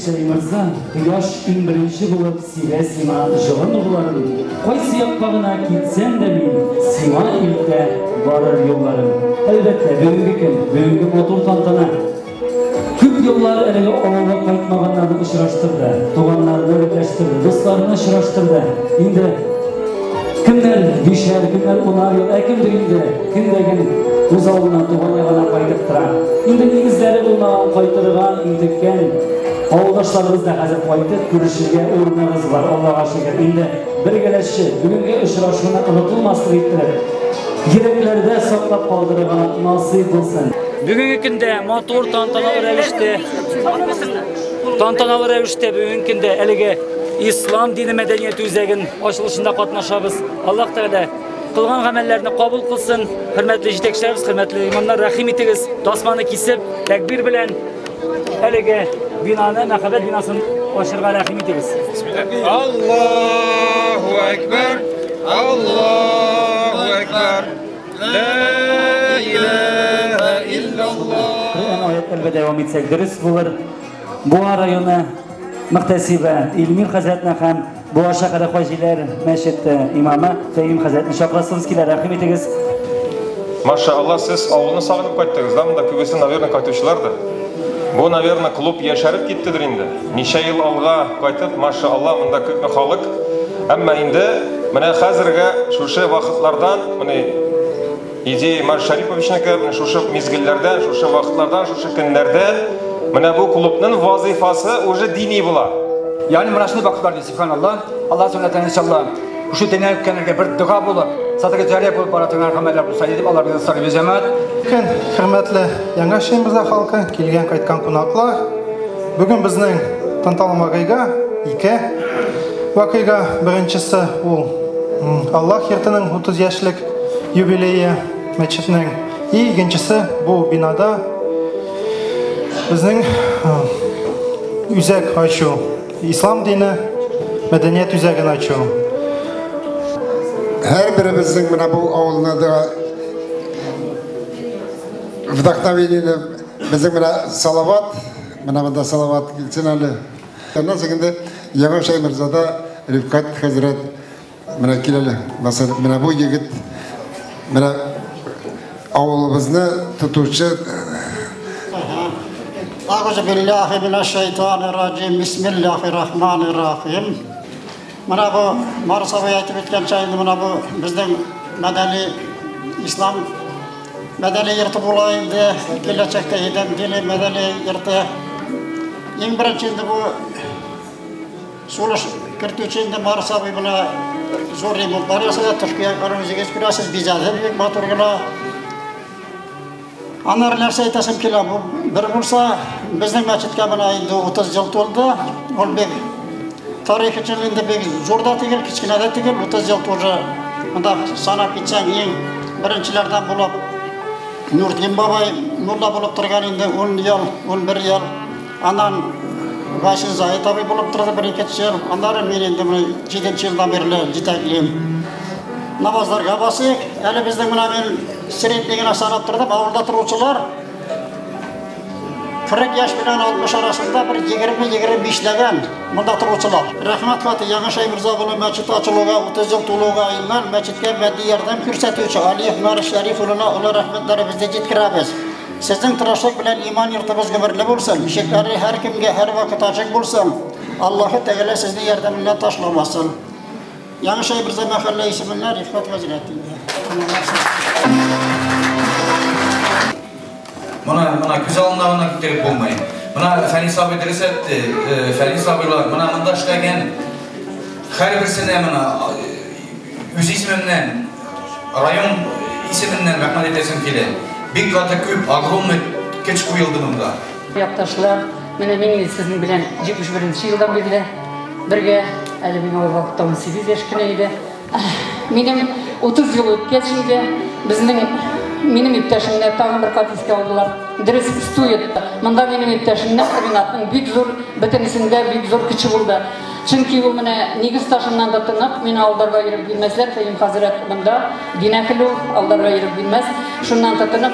Шәй мырза, кояш иң беренче булып сирә сима җылы нурларын, кайсы якка гына китсәм дә мин, сима илтә барыр юлларын. Әлбәттә, бүгенге көн, бүгенге матур тантана Күп еллар элек авылга кайтмаганнарны очраштырды, туганнарны берләштерде, дусларны очраштырды. Инде кемнәр бишәр, кемнәр унар ел, ә кемдер инде кемдәген үз авылына туган ягына кайтып тора. Инде нигезләре булмаган кайтырга интеккән Авылдашларыбыз да хәзер кайтып күрешергә урыныбыз бар, Аллага шөкер. Инде бергәләшче бүгенге очрашуны онытылмаслык иттереп, йөрәкләрдә саклап калдырырга насыйп булсын. Бүгенге көндә матур тантаналы рәвештә тантаналы рәвештә бүгенге көндә әлеге ислам дине мәдәният үзәген ачылышында катнашабыз. Аллаһ Тәгалә кылган гамәлләрне кабул кылсын. Хөрмәтле җитәкчеләребез, хөрмәтле имамнар, рәхим итегез. Тасманы кисеп, тәкбир белән әлеге бинаны, мәхәббәт бинасын ачырга рәхим итегез. Аллаһу әкбәр! Аллаһу әкбәр! Коръән аятлары белән дәвам итсәк дөрес булыр. Буа районы мөхтәсибе Илмир хәзрәтне һәм Буа шәһәре хаҗиләр мәчете имамы Фәим хәзрәтне чакырасыз килә, рәхим итегез. Маша Алла, сез авылны сагынып кайттыгыз, да монда күбесе, наверное, кайтучылардыр. Бу, наверное, клуб яшәреп киттедер инде. Ничә ел алга кайтып, маша Алла, монда күпме халык. Әмма инде менә хәзергә шушы вакытлардан, менә Идея Марш Шариповичнеке, менә шушы мизгелләрдә, шушы вакытларда, шушы көннәрдә менә бу клубның вазифасы уже дини була. Ягъни менә шундый вакытлар ди, субханалла. Алла сөннәтен иншалла. Шушы дөнья үткәннәргә бер дога булып, садыгы җария булып бара торган гамәлләр булса иде, алар белән сарып җәмәгать. Хөрмәтле Яңа Шембрза халкы, килгән-кайткан кунаклар. Бүген безнең танталым вакыйга ике вакыйга. Беренчесе ул Аллах йортының 30 яшьлек юбилее мәчетнең. И икенчесе бу бинада безнең үзәк ачу, ислам дине мәдәният үзәген ачу. Һәр беребезнең менә бу авылны да вдохновениене Безнең менә Салават, менә монда Салават килсен әле. Аннан соң инде Яңа Шәймерзада Рифкат хәзрәт менә кил әле. Менә бу егет менә авылыбызны тотучы Агыз биллахи минәш шайтанир раҗим. Бисмиллахир рахманир рахим. Менә бу Марсабый әйтеп үткәнчә инде менә бу безнең мәдәни ислам Мәдәни йорты була инде, киләчәктә идем, дили мәдәни йорты. Иң беренче инде бу сулыш кертүче инде Марс абый бына зур ремонтлар ясады, тышкы якларын үзегез күрәсез, бизәде бик матур гына. Анар нәрсә әйтәсем килә, бу бер булса, безнең мәчеткә менә инде 30 ел тулды, ул бик Тарихы чын инде бик зур да түгел, кечкенә дә түгел, 30 ел тоже монда санап китсәң иң беренчеләрдән булып Нурдин бабай мулла булып торган инде 10 ел, 11 ел. Аннан Васин Заид абый булып торды бер ике ел. Аннары мин инде менә 7 елдан бирле җитәклим. Намазларга басыйк. Әле безнең менә мин средний генә санап тордым, авылда торучылар 40 яшь белән 60 арасында бер 20-25 ләгән монда торучылар. Рәхмәт хаты Яңа Шәймирза улы мәчет ачылуга 30 ел тулуга иман мәчеткә матди ярдәм күрсәтүче Алиев Марис Шәриф улына олы рәхмәтләребезне җиткерәбез. Сезнең тырышлык белән иман йортыбыз гомерле булсын, ишекләре һәркемгә һәрвакыт ачык булсын. Аллаһы Тәгалә сезне ярдәменнән ташламасын. Яңа Шәйберзә мәхәллә исеменә Рифкат хәзрәт инде. Моны моны күз алдына гына китереп булмый. Мына Фәнис абый дөрес әйтте. Фәнис абыйлар мына монда эшләгән һәрберсенә мына үз исеменнән район исеменнән рәхмәт әйтәсем килә. Бик каты күп, огромный көч куелды монда. Якташлар, менә мин инде сезнең белән 71 елдан бирле бергә. Әле миңа ул вакытта 18 яшь кенә иде. Минем 30 ел үткәч инде безнең минем иптәшемне тагын бер кат искә алдылар. Дөрес, стует. Монда минем иптәшемнең Ринатның бик зур, бөтенесендә бик зур көче булды. Чөнки ул менә нигез ташыннан да тынып, мине алдарга иреп бирмәсләр, Фәим хәзрәт монда, динәкелү алдарга иреп бирмәс. Шуннан тотынып,